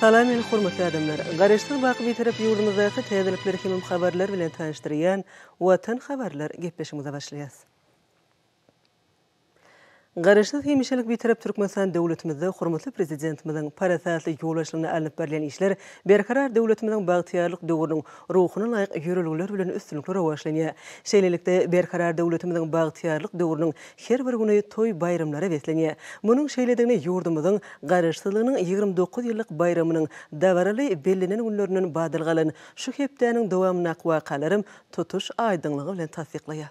Salam meni hormatly adamlar. Garaşsyz wagt bitarap ýurdumyzdaky täzelikler hemem habarlar bilen tanyşdyrýan Watan habarlar gepleşigimize başlaýas. Garaşsyz hemişelik bitarap Türkmenistan döwletimizde hormatly Prezidentimiziň parasatly ýol başlygynda alnyp barylýan işler Berkarar döwletimiziň bagtyýarlyk döwrüniň ruhuna laýyk ýörelgeler bilen üstünlikli rowaçlanýar. Şeýlelikde, Berkarar döwletimiziň bagtyýarlyk döwrüniň Her bir güni toý-baýramlara beslenýär. Munuň şeýledigini ýurdumyzyň Garaşsyzlygynyň ýigrimi dokuz ýyllyk baýramynyň dabaraly bellenen günlerinden badalga alan şu hepdäniň dowamyndaky wakalaram tutuş aýdyňlygy bilen tassyklaýar.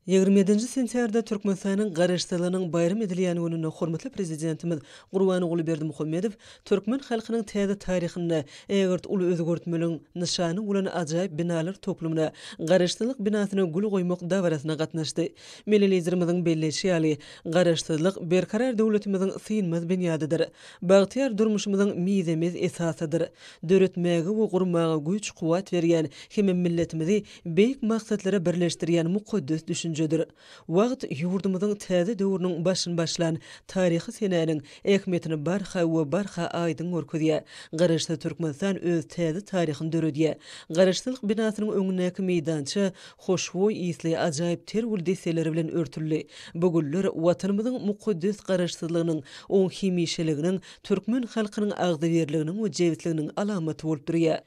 Ýigrimi ýedinji sentýarda Türkmenistanyň Garaşsyzlygynyň baýram edilýän gününde hormatly Prezidentimiz Gurbanguly Berdimuhamedow Türkmen halkynyň täze taryhynda ägirt uly özgertmeligiň nyşany bolan ajaýyp binalar toplumyna, Garaşsyzlyk binasyna gül goýmak dabarasyna gatnaşdy. Milli Liderimiziň belleýşi ýaly, Garaşsyzlyk, berkarar döwletimiziň synmaz binýadydyr. Bagtyýar durmuşymyzyň mizemez esasydyr. Döretmäge we gurmaga güýç-kuwwat berýän hem-ä milletimizi beýik maksatlara birleşdirýän mukaddes düşünjedir. Wagt ýurdumyzyň täze döwrüniň başyny başlan taryhy senäniň ähmiýetini barha we barha aýdyň görkezýär. Garaşsyz Türkmenistan öz täze taryhyny döredýär. Garaşsyzlyk binasynyň öňündäki meýdança hoşboý ysly ajaýyp ter gül desseleri bilen örtüldi. Bu güller Watanymyzyň mukaddes Garaşsyzlygynyň, oň hemişeliginiň, türkmen halkynyň agzybirliginiň we jebisliginiň alamaty bolup durýar.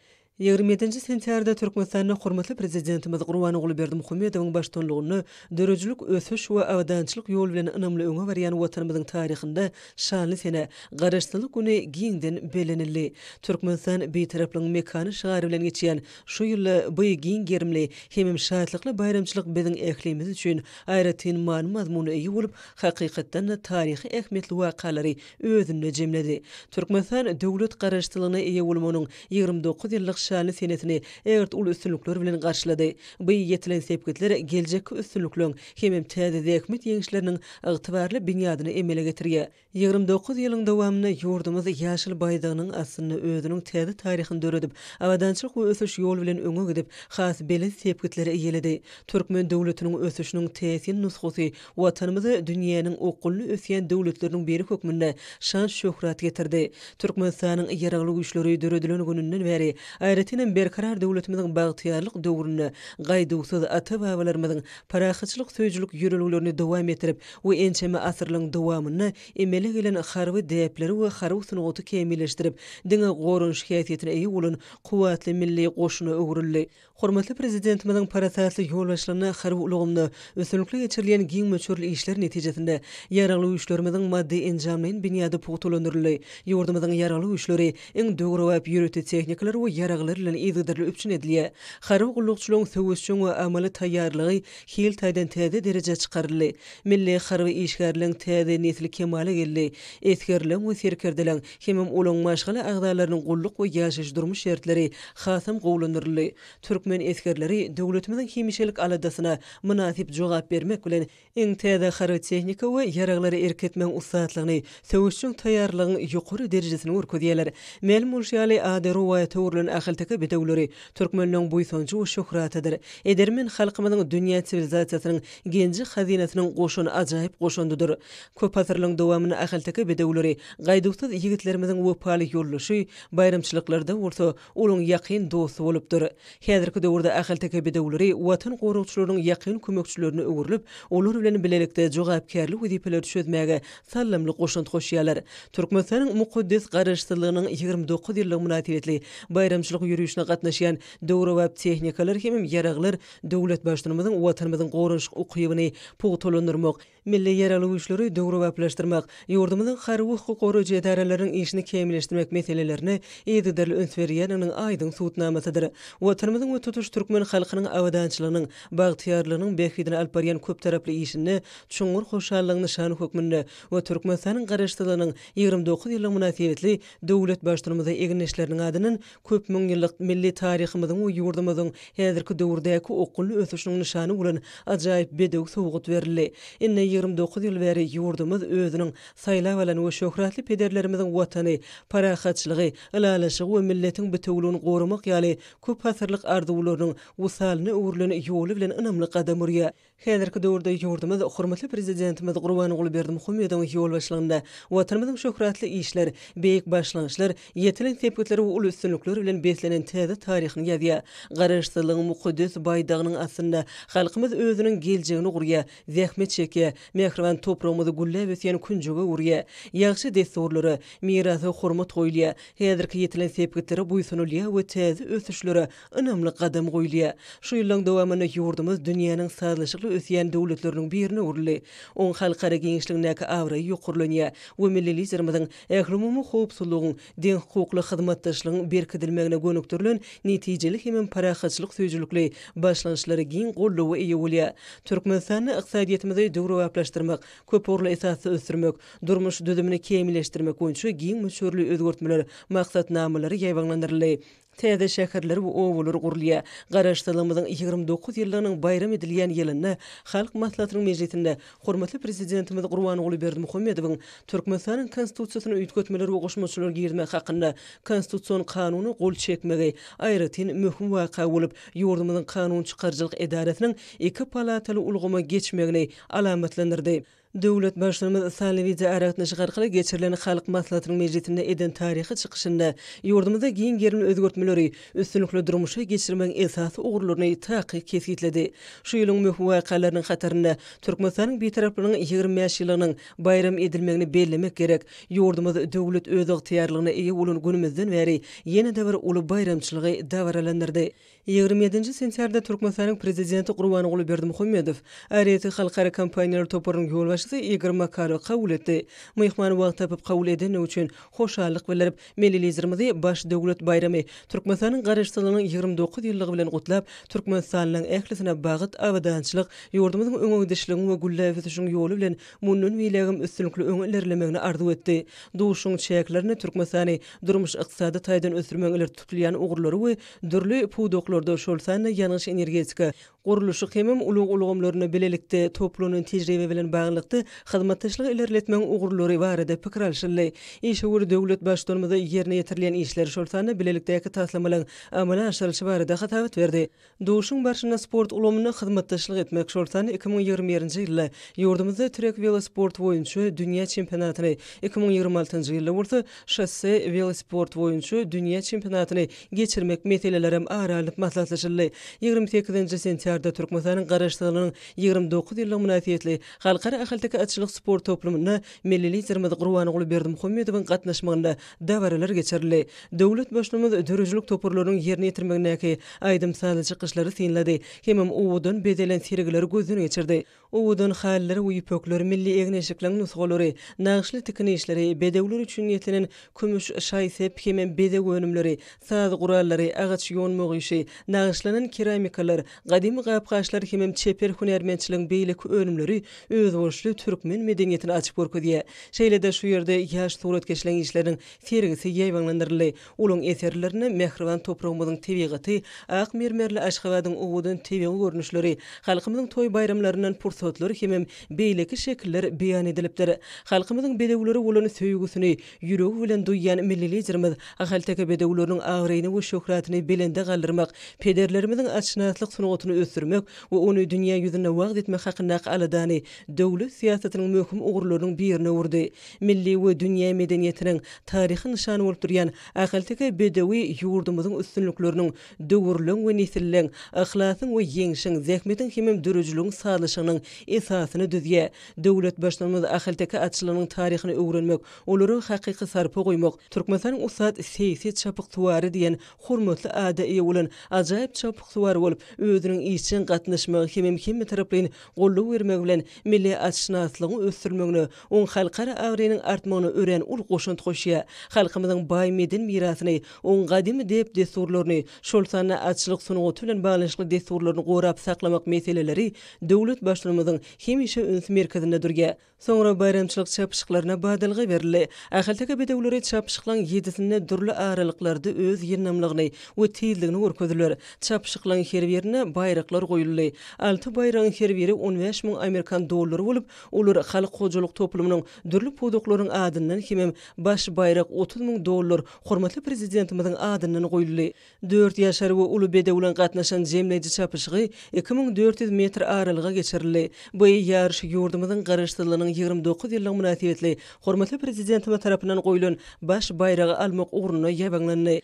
Ýigrimi ýedinji sentýarda Türkmenistanda hormatly Prezidentimiz Gurbanguly Berdimuhamedowyň baştutanlygynda döredijilik ösüş we abadançylyk ýoly bilen ynamly öňe barýan Watanymyzyň taryhynda şanly sene, Garaşsyzlyk güni giňden bellenildi. Türkmenistan Bitaraplygyň mekany şygary bilen geçýän şu ýylda bu giň gerimli hemem şatlykly baýramçylyk biziň ählimiz üçin aýratyn many-mazmuna eýe bolup, hakykatdan-da, taryhy ähmiýetli wakalary özünde jemledi. Türkmenistan döwlet garaşsyzlygyna eýe bolmagynyň ýigrimi dokuz ýyllyk şanly senesini ägirt uly üstünlikler bilen garşylady. Bu ýetilen sepgitler geljekki üstünlikleriň hemem täze zähmet ýeňişleriniň ygtybarly binýadyny emele getirýär. Ýigrimi dokuz ýylyň dowamynda ýurdumyz ýaşyl baýdagynyň astynda özüniň täze taryhyny döredip, abadançylyk we ösüş ýoly bilen öňe gidip, has belent sepgitleri eýeledi. Türkmen döwletiniň ösüşiniň täsin nusgasy Watanymyz dünýäniň okgunly ösýän döwletleriniň biri hökmünde şan-şöhrat getirdi. Türkmenistanyň Ýaragly Güýçleri döredilen gününden bäri, aýratyn hem Berkarar döwletimiziň bagtyýarlyk döwründe gaýduwsyz ata-babalarymyzyň parahatçylyk söýüjilik ýörelgelerini dowam etdirip we ençeme asyrlaryň dowamynda emele gelen harby däpleri we harby sungaty kämilleşdirip, diňe goranyş häsiýetine eýe bolan kuwwatly milli goşuna öwrüldi. Hormatly Prezidentimiziň parasatly ýolbaşçylygynda harby ulgamda üstünlikli geçirilýän giň möçberli işler netijesinde Ýaragly Güýçlerimiziň maddy-enjamlaýyn binýady pugtalandyryldy, ýurdumyzyň Ýaragly Güýçleri iň döwrebap ýörite tehnikalar we ýaraglar bilen yzygiderli üpjün edilýär, harby gullukçylaryň söweşjeň we amaly taýýarlygy hil taýdan täze derejä çykaryldy, milli harby işgärleň täze nesli kemala geldi, esgerleň we serkerdeleň hemem olaryň maşgala agzalarynyň gulluk we ýaşaýyş-durmuş şertleri hasam gowulandyryldy. Türkmen esgerleri döwletimiziň hemişelik aladasyna mynasyp jogap bermek bilen, iň täze harby tehnika we ýaraglary erk etmegiň ussatlygyny, söweşjeň taýýarlygyň ýokary derejesini görkezýärler. Mälim bolşy ýaly, ady rowaýata öwrülen ahalteke bedewleri türkmenleriň buýsanjy we şöhratydyr. Edermen halkymyzyň dünýä siwilizasiýasynyň genji-hazynasynyň goşan ajaýyp goşandydyr. Köp asyrlaryň dowamynda ahalteke bedewleri gaýduwsyz ýigitlerimiziň wepaly ýoldaşy, baýramçylyklarda bolsa, olaryň ýakyn dosty bolupdyr. Häzirki döwürde ahalteke bedewleri Watan goragçylarynyň ýakyn kömekçilerine öwrülip, olar bilen bilelikde jogapkärli wezipeleri çözmäge saldamly goşant goşýarlar. Türkmenistanyň mukaddes Garaşsyzlygynyň ýigrimi dokuz ýyllygy mynasybetli baýramçylyk ýörişine gatnaşýan döwrebap tehnikalar hem ýaraglar döwlet Baştutanymyzyň Watanymyzyň goranyşyk ukybyny pugtalandyrmak, Milli ýaragly güýçleri döwrebaplaşdyrmak, ýurdumyzyň harby-hukuk goraýjy edaralarynyň işini kämilleşdirmek meselelerine yzygiderli üns berilýändiginiň aýdyň subutnamasydyr. Watanymyzyň we tutuş türkmen halkynyň abadançylygynyň, bagtyýarlygynyň bähbidine alyp barýan köptaraply işinde çuňňur hoşallygyň nyşany hökmünde we Türkmenistanyň Garaşsyzlygynyň ýigrimi dokuz ýyllygy mynasybetli döwlet Baştutanymyza egindeşleriniň adyndan köp müň ýyllyk milli taryhymyzyň we ýurdumyzyň häzirki döwürdäki okgunly ösüşiniň nyşany bolan ajaýyp bedew sowgat berildi. Ine, ýigrimi dokuz ýyl bäri ýurdumyz özüniň saýlap alan we şöhratly pederlerimiziň Watany, parahatçylygy, ylalaşygy we milletiň bitewüligini goramak ýaly köpasyrlyk arzuwlarynyň wysalyna öwrülen ýoly bilen ynamly gadam urýar. Häzirki döwürde ýurdumyz hormatly Prezidentimiz Gurbanguly Berdimuhamedowyň ýolbaşçylygynda Watanymyzyň şöhratly işler, beýik başlangyçlar, ýetilen sepgitler we uly üstünlikler bilen beslenen täze taryhyny ýazýar. Garaşsyzlygyň mukaddes baýdagynyň astynda halkymyz özüniň geljegini gurýar, zähmet çekýär, mähriban topragymyz gülläp ösýän künjege öwürýär. Ýagşy dessurlara, mirasa hormat goýulýar, häzirki ýetilen sepgitlere buýsanylýar we täze ösüşlere ynamly gadam goýulýar. Şu ýyllaryň dowamynda ýurdumyz dünýäniň sazlaşykly ösýän döwletleriniň birine öwrüldi. Oň halkara giňişligindäki abraýy ýokarlanýar we milli Liderimiziň ählumumy howpsuzlygyň, deňhukukly hyzmatdaşlygyň berkidilmegine gönükdirilen netijeli hemem parahatçylyk söýüjilikli başlangyçlary giň goldawa eýe bolýar. Türkmenistanda ykdysadyýetimizi döwrebaplaşdyrmak, köpugurly esasda ösdürmek, durmuş düzümini kämilleşdirmek boýunça giň möçberli özgertmeler maksatnamalary ýaýbaňlandyryldy. Täze şäherler we obalar gurulýar. Garaşsyzlygymyzyň ýigrimi dokuz ýyllygynyň baýram edilýän ýylynda Halk Maslahatynyň mejlisinde hormatly Prezidentimiz Gurbanguly Berdimuhamedowyň Türkmenistanyň Konstitusiýasyna üýtgetmeler we goşmaçalar girizmek hakynda Konstitusion Kanuna gol çekmegi aýratyn möhüm waka bolup, ýurdumyzyň kanun çykaryjylyk edarasynyň iki palataly ulgama geçmegini alamatlandyrdy. Döwlet Baştutanymyz sanly wideoaragatnaşyk arkaly geçirilen Halk Maslahatynyň mejlisinde eden taryhy çykyşynda ýurdumyzda giň gerimli özgertmeleri üstünlikli durmuşa geçirmegiň esasy ugurlaryny takyk kesgitledi. Şu ýylyň möhüm wakalarynyň hatarynda Türkmenistanyň Bitaraplygynyň ýigrimi bäş ýyllygynyň baýram edilmegini bellemek gerek. Ýurdumyz döwlet özygtyýarlygyna eýe bolan günümizden bäri ýene-de bir uly baýramçylygy dabaralandyrdy. Ýigrimi ýedinji sentýabrda Türkmenistanyň Prezidenti Gurbanguly Berdimuhamedow ARETI halkara kompaniýalar toparynyň ýolbaşçysy Igor Makarowy kabul etdi. Myhman wagt tapyp kabul edendigi üçin hoşallyk bildirip, milli Liderimizi baş döwlet baýramy, Türkmenistanyň Garaşsyzlygynyň ýigrimi dokuz ýyllygy bilen gutlap, türkmenistanlylaryň ählisine bagyt, abadançylyk, ýurdumyzyň öňegidişligiň we gülläp ösüşiň ýoly bilen mundan beýlägem üstünlikli öňe ilerlemegini arzuw etdi. Duşuşygyň çäklerinde Türkmenistany durmuş-ykdysady taýdan ösdürmegiň ileri tutulýan ugurlary we Dürli pudaklarda, şol sanda ýangyç-energetika, gurluşyk hemem ulag ulgamlarynda bilelikde toplanan tejribe bilen baglylykda hyzmatdaşlygy ilerletmegiň ugurlary barada pikir alşyldy. Işewür döwlet Baştutanymyza ýerine ýetirilýän işler, şol sanda bilelikdäki taslamalaryň amala aşyrylyşy barada hasabat berdi. Duşuşygyň barşynda sport ulgamynda hyzmatdaşlyk etmek, şol sanda iki müň ýigrimi birinji ýylda ýurdumyzda trek welosporty boýunça dünýä çempionatyny, iki müň ýigrimi altynjy ýylda bolsa şosse welosporty boýunça dünýä çempionatyny geçirmek meselelerem ara alnyp maslahatlaşyldy. Ýigrimi sekizinji sentýarda Türkmenistanyň Garaşsyzlygynyň ýigrimi dokuz ýyllygy mynasybetli Halkara ahalteke atçylyk sport toplumynda milli Liderimiz Gurbanguly Berdimuhamedowyň gatnaşmagynda dabaralar geçirildi. Döwlet Baştutmamyz döredijilik toparlarynyň ýerine ýetirmegindäki aýdym-sazly çykyşlary synlady hemem owadan bezelen sergileri gözden geçirdi. Owadan halylar we ýüpekler, milli egin-eşikleriň nusgalary, nagyşly tikin işleri, bedewler üçin niýetlenen kümüş, şaý-sep hem bezeg önümleri, saz gurallary, agaç ýonmak işi, nagyşlanan keramikalar, gadymy gap-gaçlar hem çeper hünärmentçiligiň beýleki önümleri özboluşly türkmen medeniýetini açyp görkezýär. Şeýle-de şu ýerde ýaş suratkeşleriň işleriniň sergisi ýaýbaňlandyryldy. Olaryň eserlerinde mähriban topragymyzyň tebigaty, ak mermerli Aşgabadyň owadan tebigy görnüşleri, halkymyzyň toý-baýramlaryndan pursatlar hemem beýleki şekiller beýan edilipdir. Halkymyzyň bedewlere bolan söýgüsini ýüregi bilen duýýan Milli Liderimiz ahalteke bedewleriniň abraýyny we şöhratyny belende galdyrmak, pederlerimiziň atşynaslyk sungatyny ösdürmek we ony dünýä ýüzünde wagyz etmek hakyndaky aladany döwlet syýasatynyň möhüm ugurlarynyň birine öwürdi. milli we dünýä medeniýetiniň taryhy nyşany bolup durýan ahalteke bedewi ýurdumyzyň üstünlikleriniň, döwürleň we nesilleň, yhlasyň we ýeňşiň, zähmetiň hemem döredijiligiň sazlaşygynyň esasyny düzýär. Döwlet Baştutanymyz ahalteke atçylygynyň taryhyny öwrenmek, olara hakyky sarpa goýmak, Türkmenistanyň ussat seýsi çapyksuwary diýen hormatly ada eýe bolan ajaýyp çapyksuwar bolup, özüniň işjeň gatnaşmagy hemem hemmetaraplaýyn goldaw bermegi bilen milli atşynaslygyň ösdürilmegine Oň halkara abraýynyň artmagyna örän uly goşant goşýar. Halkymyzyň baý medeni mirasyny, oň gadymy däp-dessurlaryny, şol sanda atçylyk sungaty bilen baglanyşykly dessurlaryny gorap saklamak meseleleri döwlet Baştutanymyzyň hemişe üns merkezinde durýar. Soňra baýramçylyk çapyşyklaryna badalga berildi. Ahalteke bedewleri çapyşyklaň ýedisinde dürli aralyklarda öz ýyndamlygyny we tizligini görkezdiler. Çapyşyklaň her birine baýraklar goýuldy. Alty baýragyň her biri on bäş müň amerikan dollary bolup, Olar halk hojalyk toplumynyň dürli pudaklarynyň adyndan hemem baş baýrak otuz müň dollar hormatly Prezidentimiziň adyndan goýuldy. Dört ýaşary we uly bedew bilen gatnaşan jemleýji çapyşygy iki müň dört ýüz metr aralyga geçirildi. Bu ýaryş ýurdumyzyň Garaşsyzlygynyň ýigrimi dokuz ýyllygy mynasybetli hormatly Prezidentimiz tarapyndan goýlan baş baýragy almak ugrunda ýabaňlandy.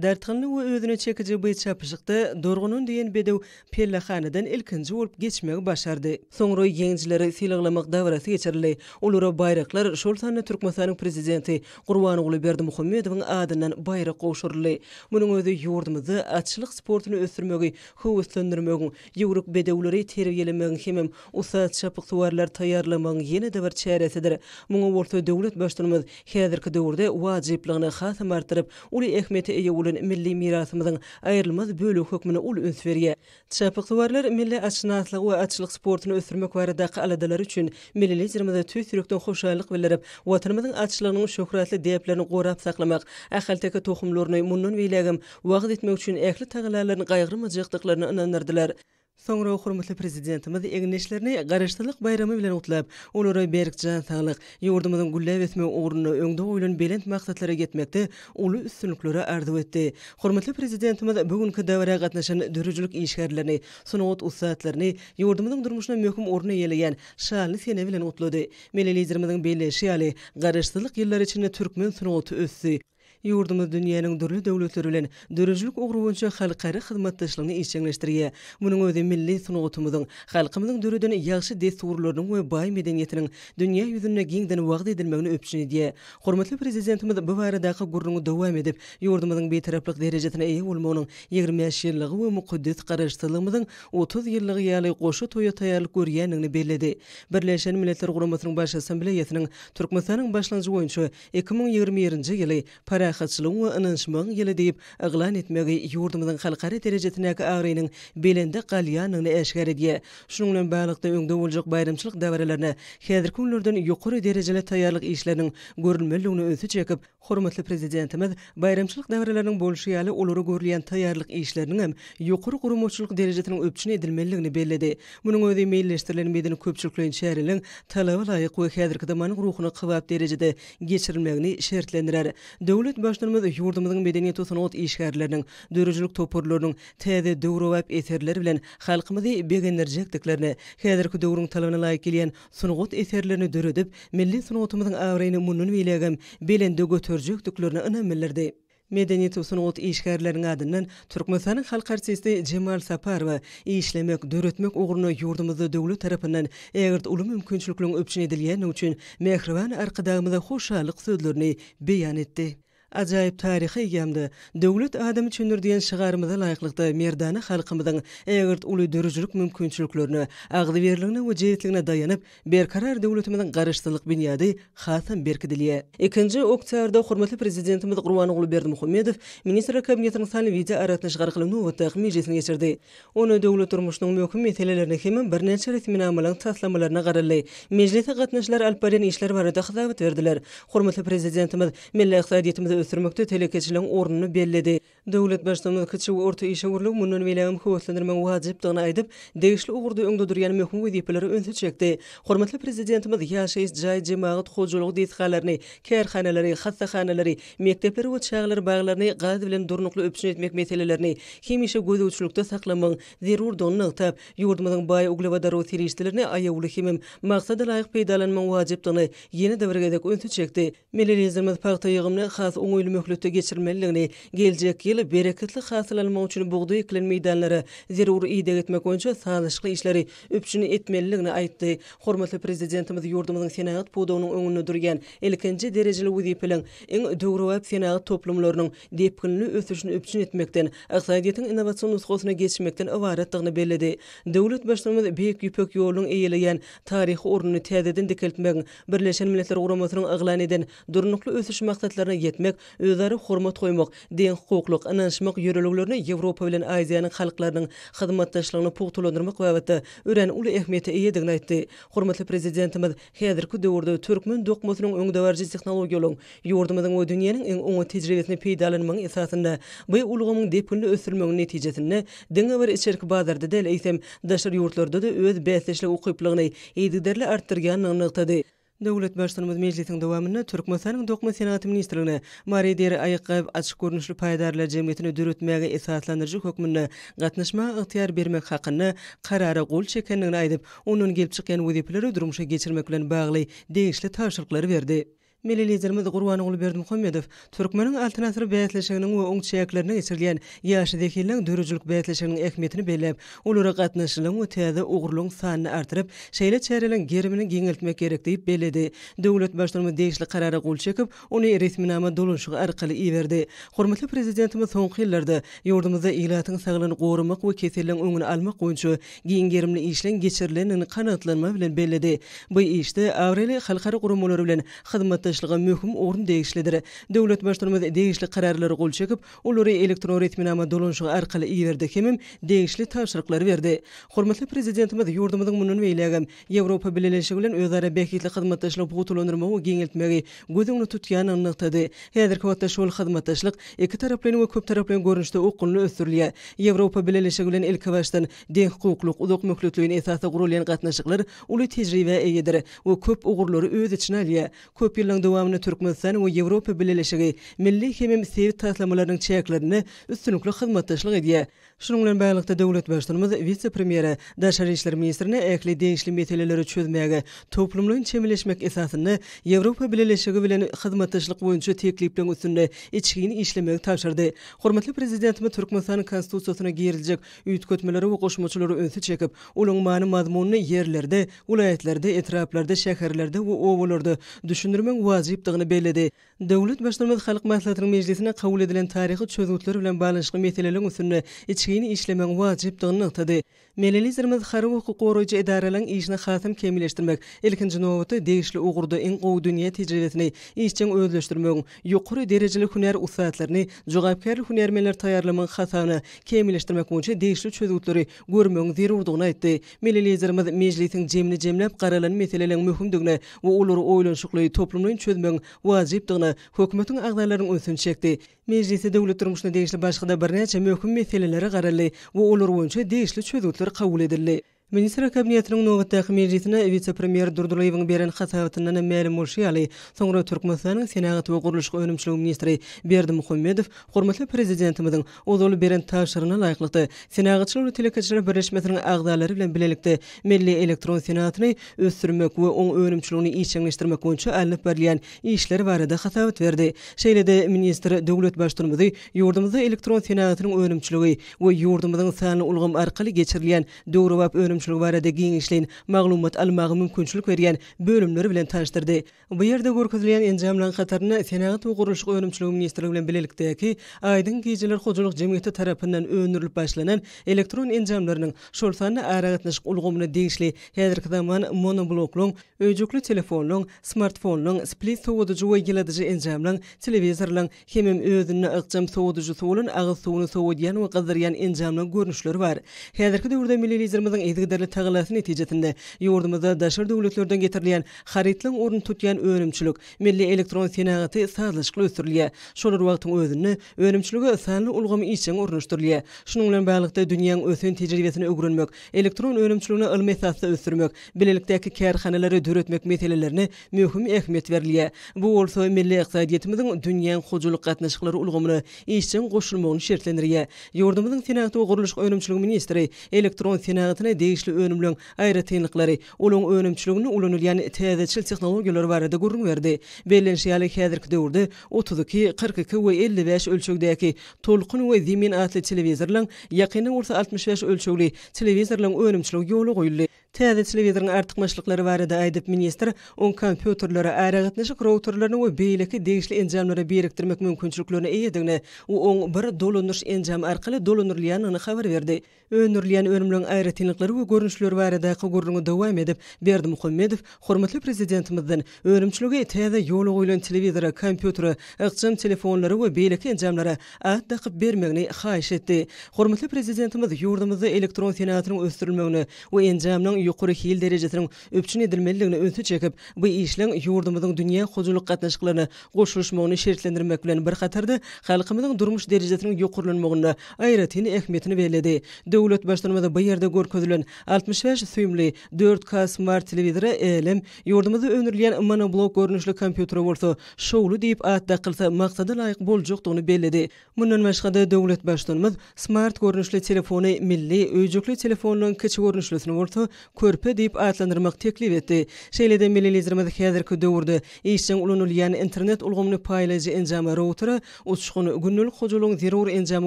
Dartgynly we özüne çekiji by çapyşykda Dorgunan diýen bedew pellehanadan ilkinji bolup geçmegi başardy. Soňra ýeňijileri sylaglamak dabarasy geçirildi. Olara baýraklar, şol sanda Türkmenistanyň Prezidenti Gurbanguly Berdimuhamedowyň adyndan baýrak gowşuryldy. Munuň özi ýurdumyzda atçylyk sportuny ösdürmegi höweslendirmegiň, Ýüwrük bedewleri terbiýelemegiň hemem ussat çapyksuwarlar taýýarlamagyň ýene-de bir çäresidir. Muňa bolsa döwlet Baştutanymyz häzirki döwürde wajyplygyny hasam artdyryp, uly ähmiýete eýe bolan milli mirasymyzyň aýrylmaz bölegi hökmünde uly üns berýär. Çapyksuwarlar milli atşynaslygy we atçylyk sportuny ösdürmek baradaky aladalary üçin milli Liderimize tüýs ýürekden hoşallyk bildirip, Watanymyzyň atçylygynyň şöhratly däplerini gorap saklamak, ahalteke tohumlaryny mundan beýlägem wagyz etmek üçin ähli tagallalaryny gaýgyrmajakdyklaryna ynandyrdylar. Soňra hormatly Prezidentimiz egindeşlerini Garaşsyzlyk baýramy bilen gutlap, olara berk jan saglyk, ýurdumyzyň gülläp ösmegi ugrunda öňde goýlan belent maksatlara ýetmekde uly üstünlikleri arzuw etdi. Hormatly Prezidentimiz bu günki dabara gatnaşan döredijilik işgärlerini, sungat ussatlaryny, ýurdumyzyň durmuşynda möhüm orun eýeleýän şanly sene bilen gutlady. Milli Liderimiziň belleýşi ýaly, Garaşsyzlyk ýyllary içinde türkmen sungaty ösdi, Ýurdumyz dünýäniň dürli döwletleri bilen döredijilik ugry boýunça halkara hyzmatdaşlygyny işjeňleşdirýär. Munuň özi milli sungatymyzyň, halkymyzyň döreden ýagşy dessurlarynyň we baý medeniýetiniň dünýä ýüzünde giňden wagyz edilmegini üpjün edýär. Hormatly Prezidentimiz bu baradaky gürrüňi dowam edip, ýurdumyzyň Bitaraplyk derejesine eýe bolmagynyň ýigrimi bäş ýyllygy we mukaddes Garaşsyzlygymyzyň otuz ýyllygy ýaly goşa toýa taýýarlyk görýändigini belledi. Birleşen Milletler Guramasynyň Baş Assambleýasynyň Türkmenistanyň başlangyjy boýunça Iki müň ýigrimi birinji ýyly Parahatçylygyň we ynanyşmagyň ýyly diýip yglan etmegi ýurdumyzyň halkara derejesindäki abraýynyň belende galýandygyny äşgär edýär. Şunuň bilen baglylykda, öňde boljak baýramçylyk dabaralaryna häzirki günlerden ýokary derejeli taýýarlyk işleriniň görülmelidigini ünsi çekip, hormatly Prezidentimiz Baýramçylyk dabaralarnyň bolşy ýaly, olara görülýän taýýarlyk işleriniň hem ýokary guramaçylyk derejesiniň üpjün edilmelidigini belledi. Munuň özi meýilleşdirilen medeni-köpçülikleýin çäreleriň talaba laýyk we häzirki zamanyň ruhuna kybap derejede geçirilmegini şertlendirer. Döwlet Baştutanymyz ýurdumyzyň medeniýet-sungat işgärleriniň, döredijilik toparlarynyň täze döwrebap eserleri bilen halkymyzy begendirjekdiklerini, häzirki döwrüň talabyna laýyk gelýän sungat eserlerini döredip, milli sungatymyzyň abraýyny mundan beýlägem belende göterjekdiklerine ynam bildirdi. Medeniýet we sungat işgärleriniň adyndan Türkmenistanyň halk artisti Jemal Saparowa işlemek, döretmek ugrunda ýurdumyzda döwlet tarapyndan ägirt uly mümkinçilikliň üpjün edilýändigi üçin mähriban Arkadagymyza hoşallyk sözlerini beýan etdi. Ajaýyp taryha eýýämde, Döwlet adam üçindir diýen şygarymyza laýyklykda merdana halkymyzyň ägirt uly dörüjilik mümkinçiliklerine, agzybirligine we jebisligine daýanyp, Berkarar döwletimiziň Garaşsyzlyk binýady hasam berkidilýär. Ikinji oktýarda hormatly Prezidentimiz Gurbanguly Berdimuhamedow Ministrler Kabinetiniň sanly wideoaragatnaşyk arkaly nobatdaky mejlisini geçirdi. Onda döwlet durmuşynyň möhüm meselelerine hem birnäçe resminamalaryň taslamalaryna garaldy. Mejlise gatnaşyjylar alyp barýan işler barada hasabat berdiler. Hormatly Prezidentimiz milli ykdysadyýetimizi ösdürmekde telekeçiligiň ornuny belledi. Döwlet Baştutanymyz kiçi we orta işewürligi mundan beýlägem höweslendirmegiň wajypdygyny aýdyp, degişli ugurda öňde durýan möhüm wezipelere ünsi çekdi. Hormatly Prezidentimiz ýaşaýyş jaý, jemagat hojalygy desgalaryny, kärhanalary, hassahanalary, Mekdepleri we çagalar baglaryny gaz bilen durnukly üpjün etmek meselelerini hemişe gözegçilikde saklamagyň zerurdygyny nygtap, ýurdumyzyň baý uglewodorod serişdelerini aýawly hemem maksadalaýyk peýdalanmagyň wajypdygyny ýene-de bir gezek ünsi çekdi. Milli Liderimiz pagta ýygymyny has oňaýly möhletde geçirmelidigini, geljek ýyl bereketli hasyl almak üçin bugdaý ekilen meýdanlara zerur ideg etmek boýunça sazlaşykly işleri üpjün etmelidigini aýtdy. Hormatly Prezidentimiz ýurdumyzyň senagat pudagynyň öňünde durýan ilkinji derejeli wezipeliň iň döwrebap senagat toplumlarynyň depginli ösüşini üpjün etmekden, ykdysadyýetiň innowasion nusgasyna geçmekden ybaratdygyny belledi. Döwlet Baştutanymyz Beýik Ýüpek ýolunyň eýeleýän taryhy ornuny täzeden dikeltmegiň Birleşen Milletler Guramasynyň yglan eden Durnukly ösüş maksatlaryna ýetmek, özara hormat goýmak, deňhukuklyk, ynanyşmak ýörelgelerine Ýewropa bilen Aziýanyň halklarynyň hyzmatdaşlygyny pugtalandyrmak babatda örän uly ähmiýete eýedigini aýtdy. Hormatly Prezidentimiz häzirki döwürde türkmen dokmasynyň öňdebaryjy tehnologiýalaryň, ýurdumyzyň we dünýäniň iň oňat tejribesini peýdalanmagyň esasynda bu ulgamyň depginli ösdürilmeginiň netijesinde diňe bir içerki bazarda däl, eýsem, daşary ýurtlarda-da öz bäsdeşlik ukyplygyny yzygiderli artdyrýandygyny nygtady. Döwlet Baştutanymyz mejlisiň dowamynda Türkmenistanyň Dokma senagaty ministrligine Mary deri aýakgap açyk görnüşli paýdarlar jemgyýetini döretmäge esaslandyryjy hökmünde gatnaşmaga ygtyýar bermek hakynda Karara gol çekendigini aýdyp, ondan gelip çykýan wezipeleri durmuşa geçirmek bilen bagly degişli tabşyryklary berdi. Milli Liderimiz Gurbanguly Berdimuhamedow Türkmeniň Altyn asyr bäsleşiginiň we oň çäklerinde geçirilýän Ýaş zehinleň döredijilik bäsleşiginiň ähmiýetini belläp, olara gatnaşyjylygyň we täze ugurlaryň sanyny artdyryp, şeýle çäreleriň gerimini giňeltmek gerek diýip belledi. Döwlet Baştutanymyz degişli Karara gol çekip, ony resminama dolanyşygy arkaly iberdi. Hormatly Prezidentimiz soňky ýyllarda ýurdumyzda ilatyň saglygyny goramak we keselleriň öňüni almak boýunça giň gerimli işleň geçirilendigini kanagatlanma bilen belledi. Bu işde abraýly halkara guramalary bilen hyzmatdaşlyga möhüm orun degişlidir. Döwlet Baştutumyz degişli kararlara gol çekip, olary elektron resminama dolanyşygy arkaly iberdi hemem degişli tabşyryklary berdi. Hormatly Prezidentimiz ýurdumyzyň mundan beýlägem Ýewropa Bileleşigi bilen özara bähbitli hyzmatdaşlygy pugtalandyrmagy we giňeltmegi göz öňünde tutýandygyny nygtady. Häzirki wagtda şol hyzmatdaşlyk ikitaraplaýyn we köptaraplaýyn görnüşde okgunly ösdürilýär. Ýewropa Bileleşigi bilen ilkibaşdan Deňhukuklyk, uzak möhletleýin esasda guralýan gatnaşyklar uly tejribä eýedir we köp ugurlary öz içine alýar. Köp ýyllaryň dowamynda Türkmenistan we Ýewropa Bileleşigi milli hemem sebit taslamalarynyň çäklerinde üstünlikli hyzmatdaşlyk edýär. Şunuň bilen baglylykda, döwlet Baştutanymyz wise-premýere, daşary işler ministrine ähli degişli meseleleri çözmäge toplumlaýyn çemeleşmek esasynda Ýewropa Bileleşigi bilen hyzmatdaşlyk boýunça teklipleriň üstünde içgin işlemegi tabşyrdy. Hormatly Prezidentimiz Türkmenistanyň Konstitusiýasyna giriljek Üýtgetmeleri we goşmaçalara ünsi çekip, olaryň many-mazmunyny ýerlerde, welaýatlarda, etraplarda, şäherlerde we obalarda düşündirmegiň wajypdygyny belledi. Döwlet Baştutumymyz Halk Maslahatynyň mejlisinde kabul edilen taryhy çözgütler bilen baglanyşykly meseleleriň üstünde içgin işlemegiň wajypdygyny nygtady. Milli Liderimiz harby hukuk goraýjy edaralaryň işini hasam kämilleşdirmek, ilkinji nobatda, degişli ugurda iň gowy dünýä tejribesini işjeň özleşdirmegiň, ýokary derejeli hünär ussatlaryny, jogapkärli hünärmenleri taýýarlamagyň hasabyna kämilleşdirmek boýunça degişli çözgütleri görmegiň zerurdygyny aýtdy. Milli Liderimiz Mejlisiň jemini jemläp garalan meseleleriň möhümdigine we olary oýlanyşykly, toplumlaýyn çözmegiň wajypdygyna Hökümetiň agzalarynyň ünsüni çekdi. Mejlisde döwlet durmuşyna degişli başga-da birnäçe möhüm meselelere garaldy we olar boýunça degişli çözgütler kabul edildi. Ministrler Kabinetiniň nobatdaky mejlisine wise-premýer Durdylyýewiň beren hasabatyndan hem mälim bolşy ýaly, soňra Türkmenistanyň Senagat we gurluşyk önümçiligi ministri Berdimuhamedow hormatly Prezidentimiziň ozal beren tabşyrygyna laýyklykda, Senagatçylar we telekeçiler birleşmesiniň agzalary bilen bilelikde milli elektron senagatyny ösdürmek we oň önümçiligini işjeňleşdirmek boýunça alnyp barylýan işler barada hasabat berdi. Şeýle-de ministr döwlet Baştutumyzy Ýurdumyzda elektron senagatynyň önümçiligi we ýurdumyzyň sanly ulgam arkaly geçirilýän döwrebap önümçiligi barada giňişleýin maglumat almaga mümkinçilik berýän bölümler bilen tanyşdyrdy. Bu ýerde görkezilýän enjamlaryň hatarynda Senagat we gurluşyk önümçiligi ministrligi bilen bilelikdäki Aýdyň gijeler hojalyk jemgyýeti tarapyndan öndürilip başlanan elektron enjamlarynyň, şol sanda aragatnaşyk ulgamyna degişli häzirki zaman monobloklyň, öýjükli telefonlyň, smartfonlyň, split sowadyjy we ýyladyjy enjamlyň, telewizorlyň, Hemem özünde ykjam sowadyjysy bolan agyz suwuny sowadýan we gyzdyrýan enjamlaň görnüşleri bar. Häzirki döwürde milli Liderimiziň yzygiderli tagallasy netijesinde, ýurdumyzda daşary döwletlerden getirilýän harytlaň ornuny tutýan önümçilik, milli elektron senagaty sazlaşykly ösdürilýär. Şol bir wagtyň özünde, önümçilige sanly ulgamy işjeň ornaşdyrylýar. Şunuň bilen baglylykda, dünýäň ösen tejribesini öwrenmek, elektron önümçiligini ylmy esasda ösdürmek, bilelikdäki kärhanalary döretmek meselelerine möhüm ähmiýet berilýär. Bu bolsa milli ykdysadyýetimiziň dünýäň hojalyk gatnaşyklary ulgamyna işjeň goşulmagyny şertlendirýär. Ýurdumyzyň Senagat we gurluşyk önümçiligi ministri elektron senagatyna degişli önümleriň aýratynlyklary, olaryň önümçiliginde ulanylýan täzeçil tehnologiýalar barada gürrüň berdi. Bellenişi ýaly, häzirki döwürde otuz iki, kyrk iki we elli bäş ölçegdäki Tolkun we Zemin atly telewizorlaryň, ýakynda bolsa altmyş bäş ölçegli telewizorlaryň önümçiligi ýola goýuldy. Täze telewizoryň artykmaçlyklary barada aýdyp, ministr oň kompýuterlere, aragatnaşyk routerlerine we beýleki degişli enjamlara birikdirmek mümkinçiliklerine eýedigini we oň bir dolandyryş enjamy arkaly dolandyrylýandygyny habar berdi. Öndürilýän önümleriň aýratynlyklary we görnüşleri baradaky gürrüňi dowam edip, Berdimuhamedow hormatly Prezidentimizden Önümçiligi täze ýola goýlan telewizora, kompýutere, ykjam telefonlara we beýleki enjamlara at dakyp bermegini haýyş etdi. Hormatly Prezidentimiz ýurdumyzda elektron senagatynyň ösdürilmegine we enjamlaryň ýokary hil derejesiniň üpjün edilmelidigine ünsi çekip, bu işleň ýurdumyzyň dünýä hojalyk gatnaşyklaryna goşulyşmagyny şertlendirmek bilen bir hatarda, halkymyzyň durmuş derejesiniň ýokarlanmagynda aýratyn ähmiýetini belledi. Döwlet Baştutanymyz bu ýerde görkezilen altmyş bäş süýümli dört K smart telewizora älem, Ýurdumyzda öndürilýän monoblok görnüşli kompýutere bolsa Şowly diýip at dakylsa maksada laýyk boljakdygyny belledi. Mundan başga-da, döwlet Baştutanymyz smart görnüşli telefony milli, öýjükli telefonlaryň kiçi görnüşlisini bolsa körpe diýip atlandyrmak teklip etdi. Şeýle-de milli Liderimiz häzirki döwürde işjeň ulanylýan internet ulgamyny paýlaýjy enjama, routera, uçgun, gündelik hojalygyň zerur enjamy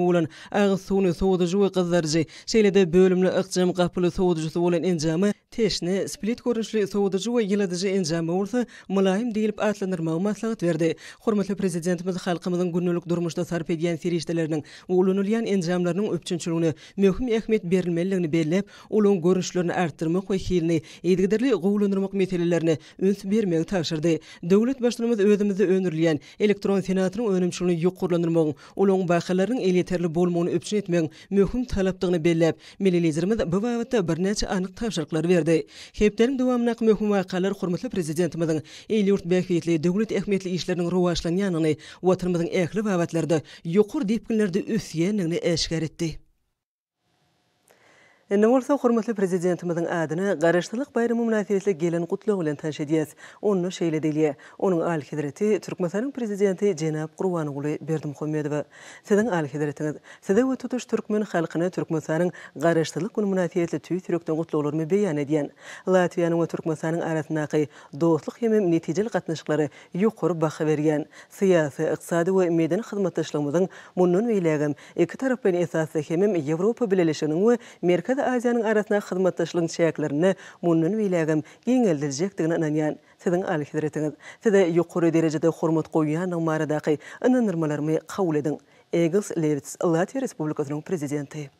bolan agyz suwuny sowadyjy we gyzdaryjy, şeýle-de bölümli ykjam gapyly sowadyjysy bolan enjama, Teşne, split görnüşli sowadyjy we ýyladyjy enjamy bolsa Mylaýym diýlip atlandyrmagy maslahat berdi. Hormatly Prezidentimiz halkymyzyň gündelik durmuşda sarp edýän serişdeleriniň we ulanylýan enjamlarynyň üpjünçiligine möhüm ähmiýet berilmelidigini belläp, olaň görnüşlerini artdyrmak we hilini yzygiderli gowulandyrmak meselelerine üns bermegi tabşyrdy. Döwlet Baştutanymyz özümizde öndürilýän elektron senagatynyň önümçiligini ýokarlandyrmagyň olaryň wakalarynyň elýeterli bolmagyny üpjün etmegiň möhüm talapdygyny belläp, milli Liderimiz bu babatda birnäçe anyk tabşyryklary berdi. Hepdäniň dowamyndaky möhüm wakalar hormatly Prezidentimiziň il-ýurt bähbitli, döwlet ähmiýetli işleriniň rowaçlanýandygyny, Watanymyzyň ähli babatlarda ýokary depginlerde ösýändigini äşgär etdi. Indi bolsa hormatly Prezidentimiziň adyna Garaşsyzlyk baýramy mynasybetli gelen Gutlag bilen tanyş edýäs. Onda şeýle diýilýär, Onuň Alyhezreti Türkmenistanyň Prezidenti jenap Gurbanguly Berdimuhamedowa, Siziň Alyhezretiňiz, Size we tutuş türkmen halkyna Türkmenistanyň Garaşsyzlyk güni mynasybetli tüýs ýürekden gutlaglarymy beýan edýän. Latwiýanyň we Türkmenistanyň arasyndaky dostluk hemem netijeli gatnaşyklara ýokary baha berýän, syýasy, ykdysady we medeni hyzmatdaşlygymyzyň mundan beýlägem iki tarap bilen esasy hemem Ýewropa Bileleşiginiň we Merkezi Aziýanyň arasyndaky hyzmatdaşlygyň çäklerinde mundan beýlägem giňeldiljekdigine ynanýan Siziň Alyhezretiňiz. Size ýokary derejede hormat goýýandygym baradaky ynandyrmalarymy kabul ediň. Egils Lewits, Latwiýa Respublikasynyň Prezidenti.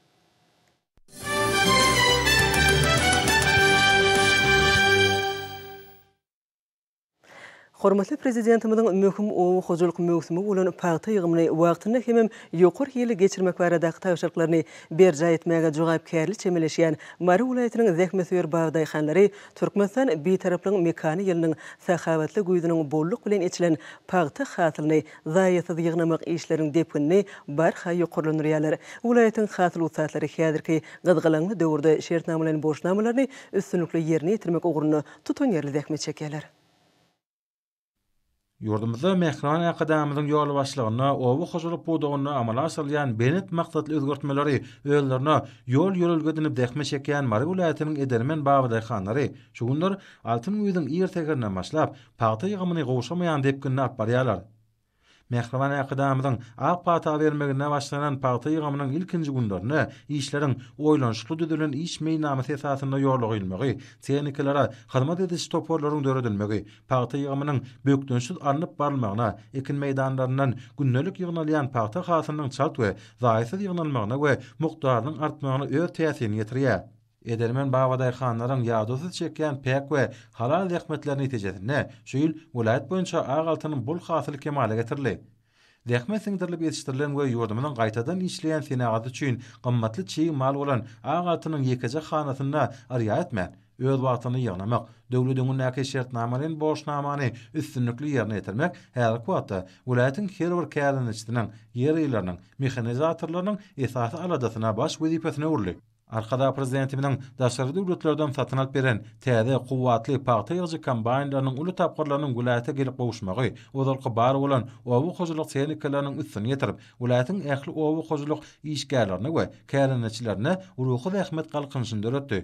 Hormatly Prezidentimiziň möhüm oba hojalyk möwsümi bolan pagta ýygymyny wagtynda hemem ýokary hilli geçirmek baradaky tabşyryklaryny berjaý etmäge jogapkärli çemeleşýän Mary welaýatynyň zähmetsöýer bagdaýhanlary Türkmenistan Bitaraplygyň mekany ýylynyň sahawatly güýzüniň bolluk bilen eçilen pagta hasylyny zaýasyz ýygnamak işleriniň depginini barha ýokarlandyrýarlar. Welaýatyň hasyl ussatlary häzirki gyzgalaňly döwürde şertnamalaýyn borçnamalaryny üstünlikli ýerine ýetirmek ugrunda tutanýerli zähmet çekýärler. Ýurdumyzda mähriban Arkadagymyzyň ýolbaşçylygynda oba hojalyk pudagynda amala aşyrylýan belent maksatly özgertmeleri özlerine ýol-ýörelge edinip zähmet çekýän Mary welaýatynyň edermen babadaýhanlary şu günler altyn güýzüň ir säherinden başlap, pagta ýygymyny gowşamaýan depginde alyp barýarlar. Mähriban äkidamyzyň ak pata bermeginde başlanan pagta ýygymynyň ilkinji günlerinde işleriň oýlanyşykly düzülen iş meýilnamasy esasynda ýola goýulmagy, tehnikalara hyzmat ediş toparlaryň döredilmegi, pagta ýygymynyň bökdençsiz alnyp barylmagyna, ekin meýdanlaryndan gündelik ýygnalýan pagta hasylynyň çalt we zaýasyz ýygnalmagyna we mukdarynyň artmagyna öz täsirini ýetirýär. Edermen babadaýhanlaryň ýadawsyz çekýän päk we halal zähmetleri netijesinde şu ýyl welaýat boýunça ak altyn bol hasyl kemala getirildi. Zähmet siňdirilip ýetişdirilen we ýurdumyzyň gaýtadan işleýän senagaty üçin gymmatly çig mal bolan ak altynyň ýekeje hanasynda yrýa etmän, öz wagtynda ýygnamak, döwlet öňündäki şertnamalaýyn borçnamany üstünlikli ýerine ýetirmek häzirki wagtda welaýatyň her bir kärendeçisiniň, ýerýylarynyň, mehanizatorlarynyň esasy aladasyna, baş wezipesine öwrüldi. Arkadag Prezidentimiziň daşary döwletlerden satyn alyp beren täze, kuwwatly pagta ýygyjy kombaýnlarynyň uly tapgyrlarynyň welaýata gelip gowuşmagy ozalky bar bolan oba hojalyk tehnikalarnyň üstüni ýetirip, welaýatyň ähli oba hojalyk işgärlerine we kärendeçilerine ruhy zähmet galkynyşyny döretdi.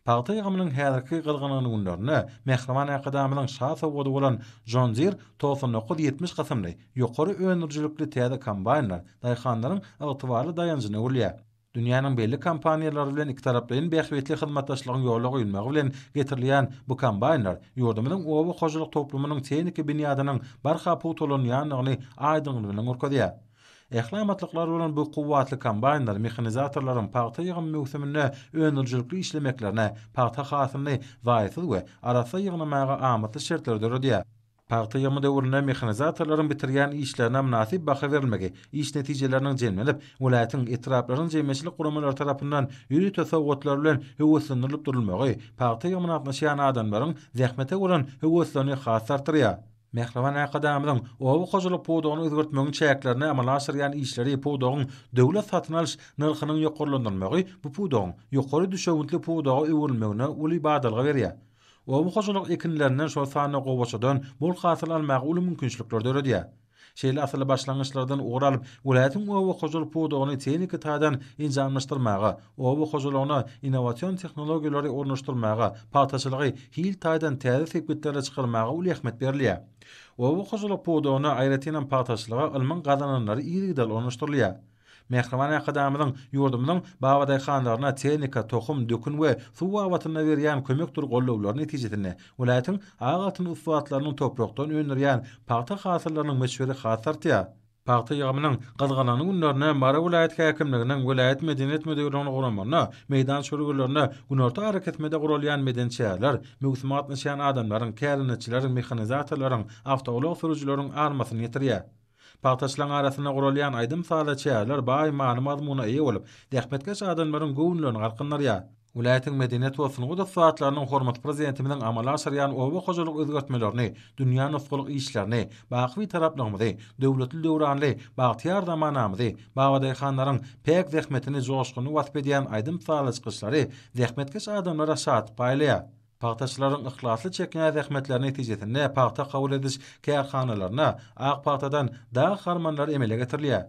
Pagta ýygymynyň häzirki gyzgyn günlerinde Mähriban Arkadagymyzyň şa sowgady bolan John Deere togsan dokuz ýetmiş kysymly ýokary öndürijilikli täze kombaýnlar daýhanlaryň ygtybarly daýanjyna öwrülýär. Dünýäniň belli kompaniýalary bilen ikitaraplaýyn bähbitli hyzmatdaşlygyň ýola goýulmagy bilen getirilýän bu kombaýnlar ýurdumyzyň oba hojalyk toplumynyň tehniki binýadynyň barha pugtalanýandygyny aýdyňlygy bilen görkezýär. Ähli amatlyklary bolan bu kuwwatly kombaýnlar mehanizatorlaryň pagta ýygym möwsüminde öndürijilikli işlemeklerine, pagta hasylyny zaýasyz we arassa ýygnamaga amatly şertleri döredýär. Pagta ýygymy döwründe mehanizatorlaryň bitirýän işlerine mynasyp baha berilmegi, iş netijeleriniň jemlenip, welaýatyň, etraplaryň jemgyýetçilik guramalary tarapyndan ýörite sowgatlar bilen höweslendirilip durulmagy pagta ýygymyna gatnaşýan adamlaryň zähmete bolan höweslerini has-da artdyrýar. Mähriban Arkadagymyzyň oba hojalyk pudagyny özgertmegiň çäklerinde amala aşyrýan işleri pudagyň döwlet satyn alyş nyrhynyň ýokarlandyrylmagy bu pudagyň ýokary düşewüntli pudaga öwrülmegine uly badalga berýär. Oba hojalyk ekinlerinden, şol sanda gowaçadan bol hasyl almaga uly mümkinçilikler döredýär. Şeýle asylly başlangyçlardan ugur alyp, welaýatyň oba hojalyk pudagyny tehniki taýdan enjamlaşdyrmaga, oba hojalygyna innowasion tehnologiýalary ornaşdyrmaga, pagtaçylygy hil taýdan täze sepgitlere çykarmaga uly ähmiýet berilýär. Oba hojalyk pudagyna, aýratynam pagtaçylyga ylmyň gazananlary yzygiderli ornaşdyrylýar. Mähriban Arkadagymyzyň ýurdumyzyň babadaýhanlaryna tehnika, tohum, dökün we suw babatynda berýän kömekdir gollawlary netijesinde, welaýatyň ak altyn ussatlarynyň toprakdan öndürýän pagta hasyllarynyň möçberi has artýar. Pagta ýygymynyň gyzgalaňly günlerine Mary welaýat häkimliginiň, welaýat medeniýet müdirliginiň guramagynda meýdan çölgelerinde günorta arakesmede guralýan medeni çäreler möwsüme gatnaşýan adamlaryň, kärendeçileriň, mehanizatorlaryň, awtoulag sürüjileriň armasyny ýetirýär. Pagtaçylaryň arasynda guralýan aýdym-saza çäreler baý many-mazmuna eýe bolup, zähmetkeş adamlaryň göwünlerini galkyndyrýar. Welaýatyň medeniýet we sungat ussatlarynyň hormatly Prezidentimiziň amala aşyrýan oba hojalyk özgertmelerini, dünýä nusgalyk işlerini, baky Bitaraplygymyzy, döwletli döwranly bagtyýar zamanamyzy, babadaýhanlaryň päk zähmetini joşgunly wasp edýän aýdym-sazly çykyşlary zähmetkeş adamlara şatlyk paýlaýar. Pagtaçylaryň yhlasly çekýän zähmetleri netijesinde pagta kabul ediş kärhanalarynda ak pagtadan dag harmanlary emele getirilýär.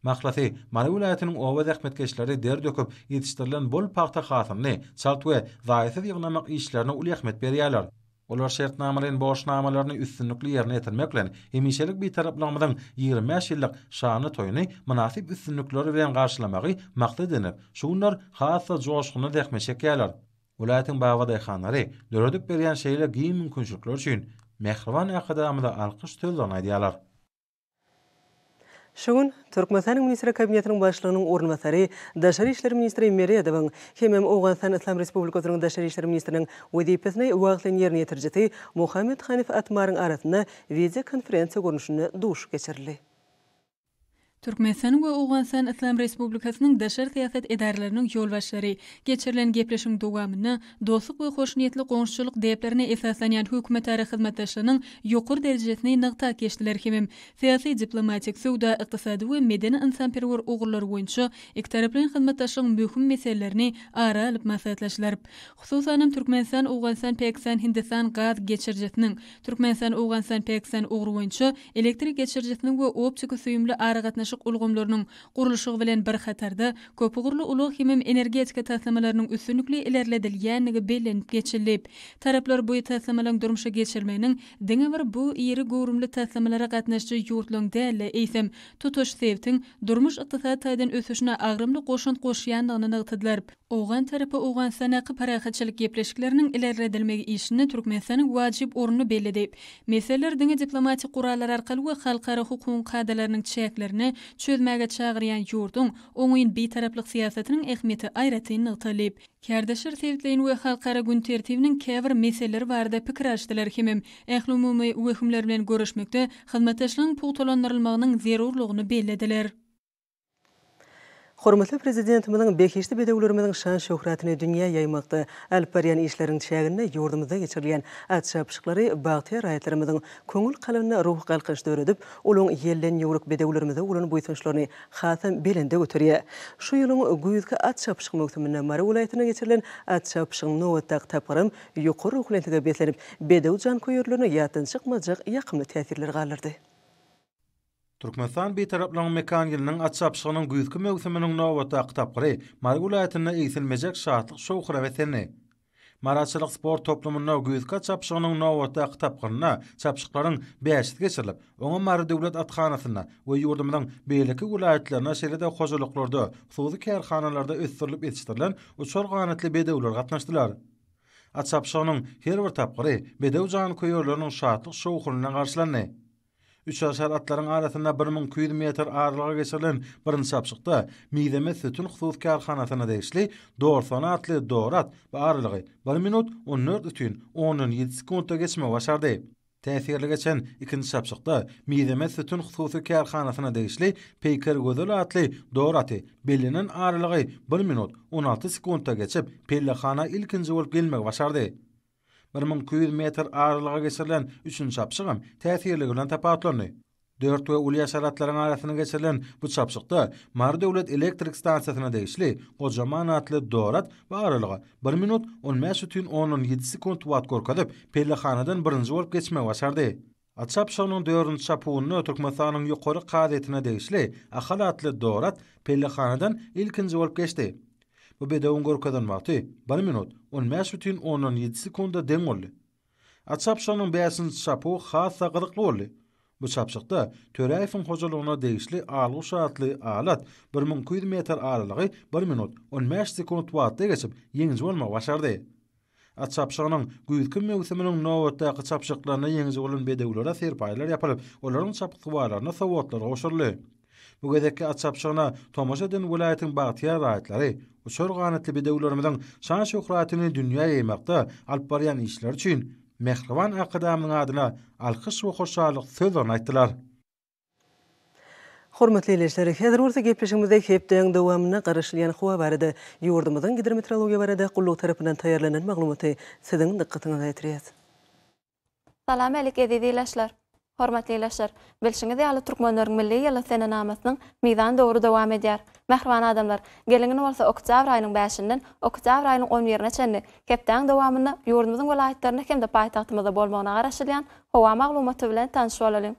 Mahlasy, Mary welaýatynyň oba zähmetkeşleri der döküp ýetişdirilen bol pagta hasylyny çalt we zaýasyz ýygnamak işlerine uly ähmiýet berýärler. Olar şertnamalaýyn borçnamalaryny üstünlikli ýerine ýetirmek bilen, hemişelik Bitaraplygymyzyň ýigrimi bäş ýyllyk şanly toýuny mynasyp üstünlikler bilen garşylamagy maksat edinip, şu günler has-da joşgunly zähmet çekýärler. Welaýatyň bag we daýhanlary döredip berýän şeýle giň mümkinçilikler üçin mähriban Arkadagymyza alkyş sözlerini aýdýarlar. Şu gün Türkmenistanyň Ministrler Kabinetiniň Başlygynyň orunbasary, daşary işler ministri Meredowyň hemem Owganystan Yslam Respublikasynyň daşary işler ministriniň wezipesini wagtlaýyn ýerine ýetirijisi Mohammad Hanif Atmaryň arasynda wideokonferensiýa görnüşinde duşuşyk geçirildi. Türkmenistanyň we Owganystan Yslam Respublikasynyň daşary syýasat edaralarynyň ýolbaşçylary geçirilen gepleşigiň dowamynda dostluk we hoşniýetli goňşuçylyk däplerine esaslanýan hökümetara hyzmatdaşlygynyň ýokary derejesini nygtap geçdiler hemem syýasy-diplomatik, söwda-ykdysady we medeni-ynsanperwer ugurlar boýunça ikitaraplaýyn hyzmatdaşlygyň möhüm meselelerini ara alyp maslahatlaşdylar. Hususanam, Türkmenistan-Owganystan-Pakistan-Hindistan gaz geçirijisiniň Türkmenistan-Owganystan-Pakistan ugry boýunça elektrik geçirijisiniň we optiko-süýümli aragatnaşyk ulgamlarynyň gurluşygy bilen bir hatarda, köpugurly ulag-himem energetika taslamalarynyň üstünlikli ilerledilýändigi bellenip geçilip, taraplar bu taslamalaryň durmuşa geçirilmeginiň diňe bir bu iri göwrümli taslamalara gatnaşyjy ýurtlaryň däl-de, eýsem, tutuş sebtiň durmuş-ykdysady taýdan ösüşine agramly goşant goşýandygyny nygtadylar. Owgan tarapy Owganystandaky parahatçylyk gepleşikleriniň ilerledilmegi işinde Türkmenistanyň wajyp ornuny belledi. Meseleler diňe diplomatik gurallar arkaly we halkara hukugyň kadalarynyň çäklerinde çözmäge çagyrýan ýurduň oňyn Bitaraplyk syýasatynyň ähmiýeti aýratyn nygtaldy. Kärdeşler sebitleýin we halkara gün tertibiniň käbir meseleleri barada pikir alyşdylar hemem ählumumy wehimler bilen göreşmekde hyzmatdaşlygyň pugtalandyrylmagynyň zerurlygyny bellediler. Hormatly Prezidentimiziň behişdi bedewlerimiziň şan-şöhratyny dünýä ýaýmakda alyp barýan işleriniň çäginde ýurdumyzda geçirilýän at çapyşyklary bagtyýar raýatlarymyzyň köňül kalbynda ruhy galkynyş döredip, olaň ýelden ýüwrük bedewlerimize bolan buýsançlaryny hasam belende göterýär. Şu ýylyň güýzki at çapyşyk möwsüminde Mary welaýatynda geçirilen at çapyşygyň nobatdaky tapgyram ýokary ruhubelentlige beslenip, bedew janköýerlerine ýatdan çykmajak ýakymly täsirler galdyrdy. Türkmenistan Bitaraplygyň mekan ýylynyň at çapyşygynyň güýzki möwsüminiň nobatdaky tapgyry Mary welaýatynda egsilmejek şatlyk-şowhuna beslendi. Mary atçylyk sport toplumynda güýzki at çapyşygynyň nobatdaky tapgyrynda çapyşyklaryň bäşisi geçirilip, oňa Mary döwlet athanasynda we ýurdumyzyň beýleki welaýatlarynda şeýle-de hojalyklarda, hususy kärhanalarda ösdürilip ýetişdirilen uçar ganatly bedewler gatnaşdylar. At çapyşygynyň her bir tapgyry bedew janköýerleriniň şatlyk-şowhunyndan garşylandy. Üçaşar atlaryň arasynda bir müň iki ýüz metr aralyga geçirilen birinji çapyşykda Mizemez sütün hususy kärhanasyna degişli Dorsana atly dor at bu aralygy bir minut on dört ütün ondan ýedi sekuntda geçmegi başardy. Täsirli geçen ikinji çapyşykda Mizemez sütün hususy kärhanasyna degişli Peýker gözel atly dor aty bellenen aralygy bir minut on alty sekuntda geçip, pellehana ilkinji bolup gelmegi başardy. Bir müň iki ýüz metr aralyga geçirilen üçünji çapyşygam täsirligi bilen tapawutlandy. Dört we uly haşeratlaryň arasynda geçirilen bu çapyşykda Mary döwlet elektrik stansiýasyna degişli gojaman atly dorat bu aralyga bir minut on bäş bütin ondan ýedi sekunt wagt görkezip, pellehanadan birinji bolup geçmegi başardy. At çapyşygynyň dördünji çapuwynda Türkmenistanyň Ýokary kazyýetine degişli Ahal atly Dorat pellehanadan ilkinji bolup geçdi. Bu bedewiň görkezen wagty bir minut, on bäş bütin ondan ýedi sekunda deň boldy. At çapyşygynyň bäşinji çapuwy has-da gyzykly boldy. Bu çapyşykda Töräýewiň hojalygyna degişli Alguş atly al at bir müň iki ýüz metr aralygy bir minut, on bäş sekunt wagtda geçip, ýeňiji bolmagy başardy. At çapyşygynyň güýzki möwsüminiň nobatdaky çapyşyklarynda ýeňiji bolan bedewlere serpaýlar ýapylyp, olaryň çapyksuwarlaryna sowgatlar gowşuryldy. Bu gezekki at çapyşygyna tomaşa eden welaýatyň bagtyýar raýatlary uçar ganatly bedewlerimiziň şan-şöhratyny dünýä ýaýmakda alyp barýan işleri üçin Mähriban Arkadagymyzyň adyna alkyş we hoşallyk sözlerini aýtdylar. Hormatly ildeşler, häzir bolsa gepleşigimizde hepdäň dowamynda garaşylýan howa barada, ýurdumyzyň gidrometrologiýa barada gullugy tarapyndan taýýarlanan maglumaty siziň dykgatyňyza ýetirýäs. Salam älik eziz ilaşlar! Hormatly ilaşlar, bilşiňiz ýaly Türkmenleriň milli ýyly senenamasynyň mizan döwri dowam edýär. Mähriban adamlar, geliňin bolsa oktýabr aýynyň bäşinden oktýabr aýynyň on birine çenli hepdäň dowamynda ýurdumyzyň welaýatlarynda hem-de paýtagtymyzda bolmagyna garaşylýan howa maglumaty bilen tanyş bolalyň.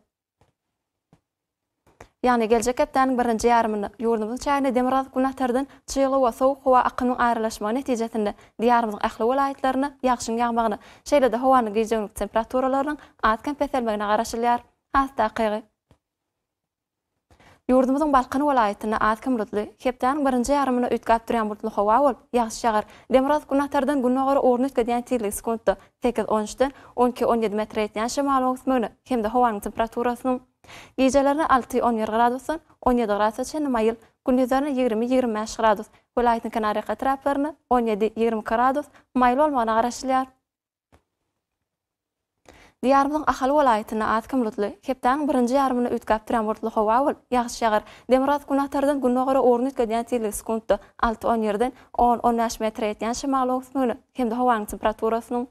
Ýagny geljek hepdäniň birinji ýarymynda ýurdumyzyň çägine demirgazyk günatardan çygly we sowuk howa akynyň aralaşmagy netijesinde Diýarymyzyň ähli welaýatlarynda ýagşyň ýagmagyna, şeýle-de howanyň gijegünlik temperaturalarynyň az-kem peselmegine garaşylýar. Has takygy. Ýurdumyzyň Balkan welaýatynda az-kem bulutly, hepdäniň birinji ýarymyna üýtgäp durýan bulutly howa bolup, ýagyş ýagar. Demirgazyk günatardan gündogara ugruny üýtgedýän tizligi sekuntda sekiz on üçden on iki on ýedi metre ýetýän şemalyň öwüsmegine hem-de howanyň temperaturasynyň gijelerine alty on bir gradusdan on ýedi gradusa çenli maýyl, gündizlerine ýigrimi ýigrimi bäş gradus, welaýatyň kenarýaka etraplarynda on ýedi ýigrimi iki gradus maýyl bolmagyna garaşylýar. Diýarymyzyň Ahal welaýatynda az kim bulutly, hepdäniň birinji ýarymynda üýtgäp durýan bulutly howa bolup, ýagyş ýagar. Demirgazyk-günbatardan gündogara ugruny üýtgedýän tizligi sekuntda alty on ýerden on-on bäş metre ýetýän şemaly öwsmügini hem-de howanyň temperaturasynyň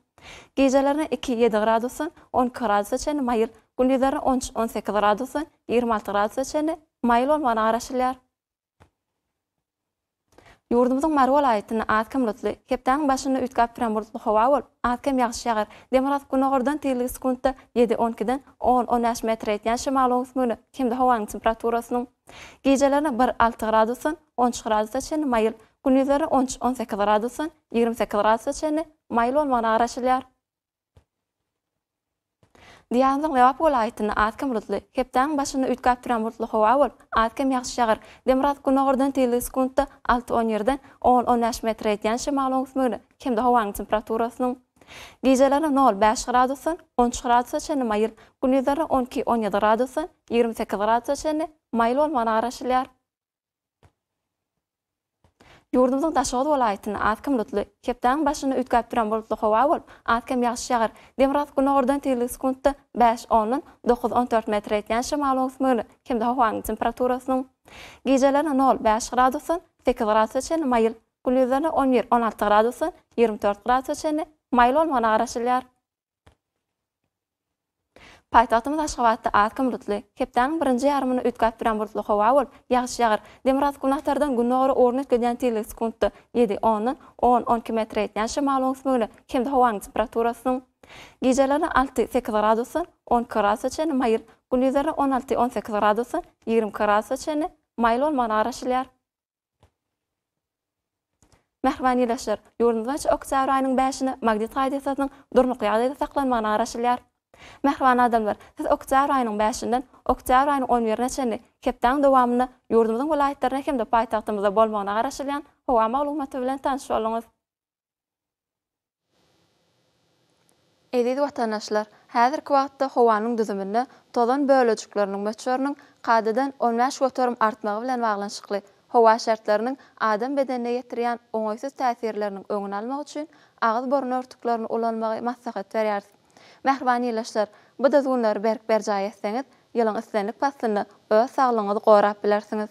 gijelerine iki, ýedi gradusdan on iki gradusa çenli maýyl, gündizlerine on üç, on sekiz gradusdan ýigrimi alty gradusa çenli maýyl bolmagyna garaşylýar. Ýurdumyzyň Mary welaýatynda az-kem bulutly, hepdäniň başynda üýtgäp duran bulutly howa bolup, az-kem ýagyş ýagar, demirgazyk günogardan tizligi sekuntda ýedi-on ikiden on-on bäş metre ýetýän şemaly öwsmügini hem-de howanyň temperaturasynyň Gijeleri bir alty gradusdan on üç gradusa çenli maýyl, gündizleri on üç-on sekiz gradusdan ýigrimi sekiz gradusa çenli maýyl bolmagyna garaşylýar. Diagnozyň Lebap welaýatynda az-kem bulutly, hepdäniň başynda üýtgäp duran bulutly howa bolup, az-kem ýagşy ýagar. Demirgazyk günordan tizligi sekuntda alty-on ýerden on-on bäş metre ýetýän şemalyň öwüsmegine hem-de howanyň temperaturasynyň Gijeleri nol bäş gradusdan on üç gradusa çenli maýyl, gündizleri on iki on ýedi gradusdan ýigrimi sekiz gradusa çenli maýyl bolmagyna garaşylýar. Ýurdumyzyň Daşoguz welaýatynda az-kem bulutly, hepdäniň başynda üýtgäp duran bulutly howa bolup, az-kem ýagyş ýagar. Demirgazyk günordan tizligi sekuntda bäş ondan dokuz on dört metre ýetýän şemalyň öwüsmegine hem-de howanyň temperaturasynyň Gijeleri nol bäş gradusdan sekiz gradusa çenli maýyl, Gündizleri on bir, on alty gradusdan ýigrimi dört gradusa çenli maýyl bolmagyna garaşylýar. Paýtagtymyz Aşgabatda akşam bulutly, hepdäniň birinji ýarymyny üýtgäp duran bulutly howa bolup, ýagyş ýagar. Demirgazyk-günbatardan gündogara ugruny üýtgedýän tizligi sekuntda ýedi, ondan on, on iki metre ýetýän şemalyň ösmegine hem-de howanyň temperaturasynyň gijeleri alty, sekiz gradusdan on iki gradusa çenli maýyl, gündizleri on alty, on sekiz gradusdan ýigrimi iki gradusa çenli maýyl bolmagyna garaşylýar. Mähriban ildeşler, ýurdumyz boýunça oktýabr aýynyň bäşinde magnit hadisasynyň durnukly ýagdaýda saklanmagyna garaşylýar. Mähriban adamlar, siz oktýabr aýynyň bäşinden oktýabr aýynyň on birine çenli hepdäň dowamynda ýurdumyzyň welaýatlarynda hem-de paýtagtymyzda bolmagyna garaşylýan howa maglumaty bilen tanyş bolduňyz. Eziz watandaşlar, häzirki wagtda howanyň düzüminde tozan bölejikleriniň möçberiniň kadadan on bäş göterim artmagy bilen baglanyşykly howa şertleriniň adam bedenine ýetirýän oňaýsyz täsirleriniň öňüni almak üçin agyz-burun örtüklerini ulanmagy maslahat berýäris. Mähriban ildeşler, bu düzgünleri berk berjaý etseňiz, ýylyň islendik paslynda öz saglygyňyzy gorap bilersiňiz.